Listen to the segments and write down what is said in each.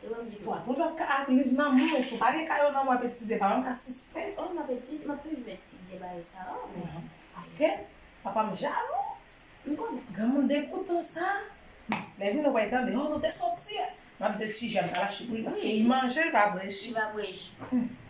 Elan di pwa tout wap ka ak liv nan menw si w pa gen kay ou nan wap etidye pa menm ka sispèk. Oh map etid map toujou etidye bagay sa oh men. Paske papam jalou m konnen. Granmoun degoutan sa lè vin wè tande oh nou te soti map di tijeune pa lache pou li paske li manjel pa bwè ji. Li pa bwè ji.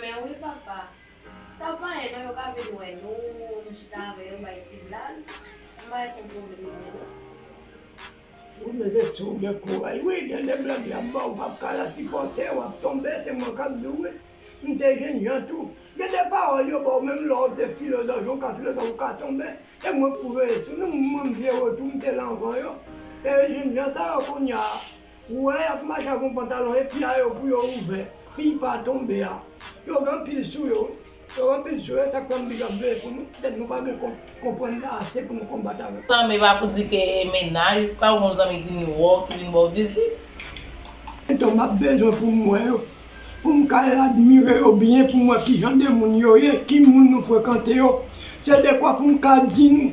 Men wi papa. Sa w pa ye non yo ka vin wè nou, nou chita avè yo bay ti blag. M pa wè son pwoblèm pou yo non. Wi men se si w gen kouraj wi gen de blag y ap ba w ou pap ka la sipòte w ap tonbe se mwen k ap di w wi. M te jènjan tou. Gen de pawòl yo ba w menm lè w te filozòf yon ka filozòf ou ka tonbe. E mwen pwouve sou nou mwen m vye retou m te la anvan yo. E jènjan sa yo kounya Ou wè yap mache ak yon pantalon e pia yo pou yo ouvè piy pa tonbe a yo gen anpil sou yo yo gen anpil sou yo esak fè anpil ap veye pou nou petèt nou pa gen konprann ase pou nou konbat avèk. Tanm epa pou di ke e mennaj ou ka yon zanmi ki vin wè w ki vin baw vizit. Etan map bezwen poum wè yo poum ka admire yo byen poum wè kijan de moun yo ye ki moun nou frekante yo se dekwa poum ka di nou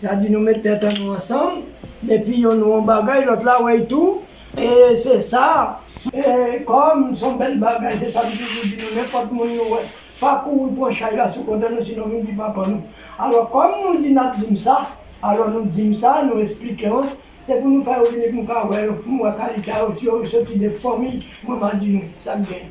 Sa di nou met tèt an nou ansanm depi yon nou yon bagay lòt la wè y tou e se sa. E kòm s on bèl bagay se sa m toujou di nou nenpòt moun nou wè pa kouri pran chay la sou kontè nou sinon nou di papa nou. Alò kòm nou di n ap di m sa alò nou di m sa nou esplike mwen se pou nou fè yo vini pou m ka wè yo pou m wè kalite a yo si yo soti de fanmiy mwen m a di nou sa k gen.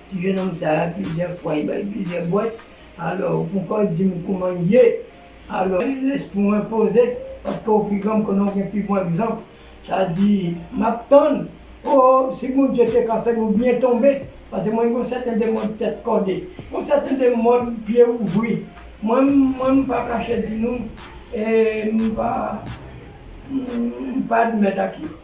Ti jenòm sa a plizyè fwa li bay plizyè bwat alò ou ponkò di m kouman l ye alò li lèse pou mwen poze paske ou pi gran m konnen ou gen pi bon egzanp sa di m ap tann oo si Bondye te ka fè nou byen tonbe paske mwen gen yon sèten de mòd tèt kòde yon sèten de mòd pye ouvri mwen m mwen m pa kache di nou e m pa m pa admèt ak yo.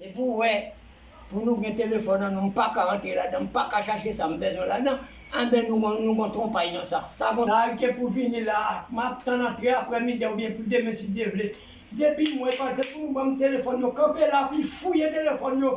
Depi w wè pou nou gen telefòn an nou m paka antre ladan, m paka chache sa m bezwen ladan, anben nou gon nou gon twonpay nan sa. Sa gon. Sa rete pou vini la a. M ap tann antre aprè midi a oubyen pou demen si Dye vle. Depi m wè pa gen pou nou ban m telefòn yo kanpe la pou fouye telefòn yo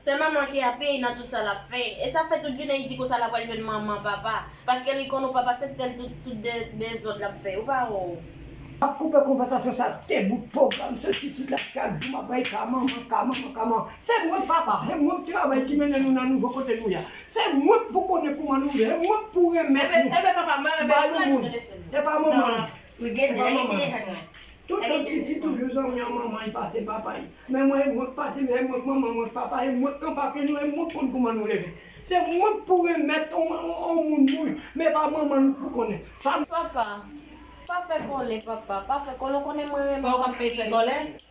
Se manman ki ap peye nan tout sa lap fè. E sa fè tout jounen li di konsa la pral jwenn manman papa. Paske li konn ou papa se tel tout tout dezod lap fè yo pa wè w. Map koupe konvèsasyon sa te bout pwogram sot isit la ki al di map bay ka manman ka manman ka manman se mwen papa e mwen k travay ki mennen nou nan nouvo kote nou ya se mwen k pou konnen kouman nou ye e mwen k pou renmèt nou ba yon moun epa manman Se pa manman l. Tout tan Titi toujou zanmi an manman li pase papa li. Men mwen e mwen k pase men e mwen k manman mwen k papa e mwen k an papye nou e mwen k konn kouman nou leve. Se mwen k pou remèt on on moun moun men e pa manman l pou konnen sa. Papa, pa fè kòlè papa, pa fè kòlè ou konnen mwen renmen w anpil.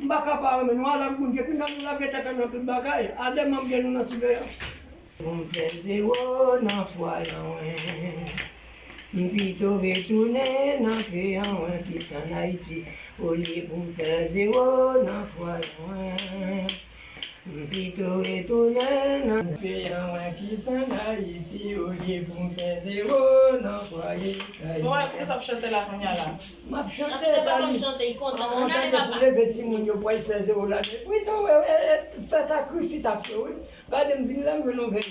M pa ka pa renmen nou al ak moun depi nan nou lage tèt an nan tout bagay a de manm gen nou nan siveyans. Pou m fè zewo nan fwa lanwen M pito retounen nan fe anwen ki san Ayiti Olye pou m fè zewo nan fwa lanwen. M pito retounen nan peyi a mwen ki san Dayiti olye pou m fè zewo nan fwaye kay mwen. Bon e poukisa w ap chante la kounya la? M ap chante e pa li. An chante pou leve timoun yo pou al fè zewo la. Pito fè sakrifis ak yo wi. Gade m vin la m jwenn yon vèy.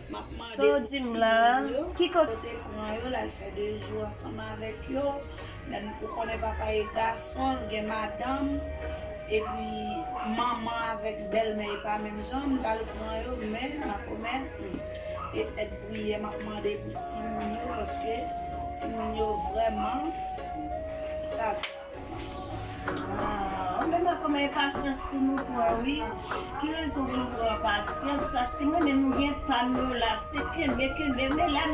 Map mande pou ti moun yo kote pran yo lal fè 2 jou ansanm avèk yo menm ou konnen papa e gason l gen madanm epi manman avèk bèlmè e pa menm jan m tal pran yo men makomè humm e et priyè map mande pou ti moun yo paske ti moun yo vrèman sa. Aww men mwen kòman enpasyans pou nou pran wi ki rezon pou nou pran enpasyans paske mwen menm m gen pam yo la se kenbe kenbe men lèm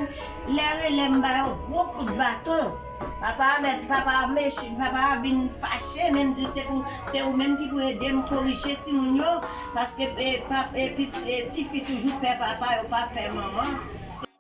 lè rele m ba yo gwo kout baton papa a mèt papa a mech papa a vin fache men m di se pou se ou menm ki pou ede m korije timoun yo paske e pap e piti e tifi toujou pè papa yo pa pè manman se.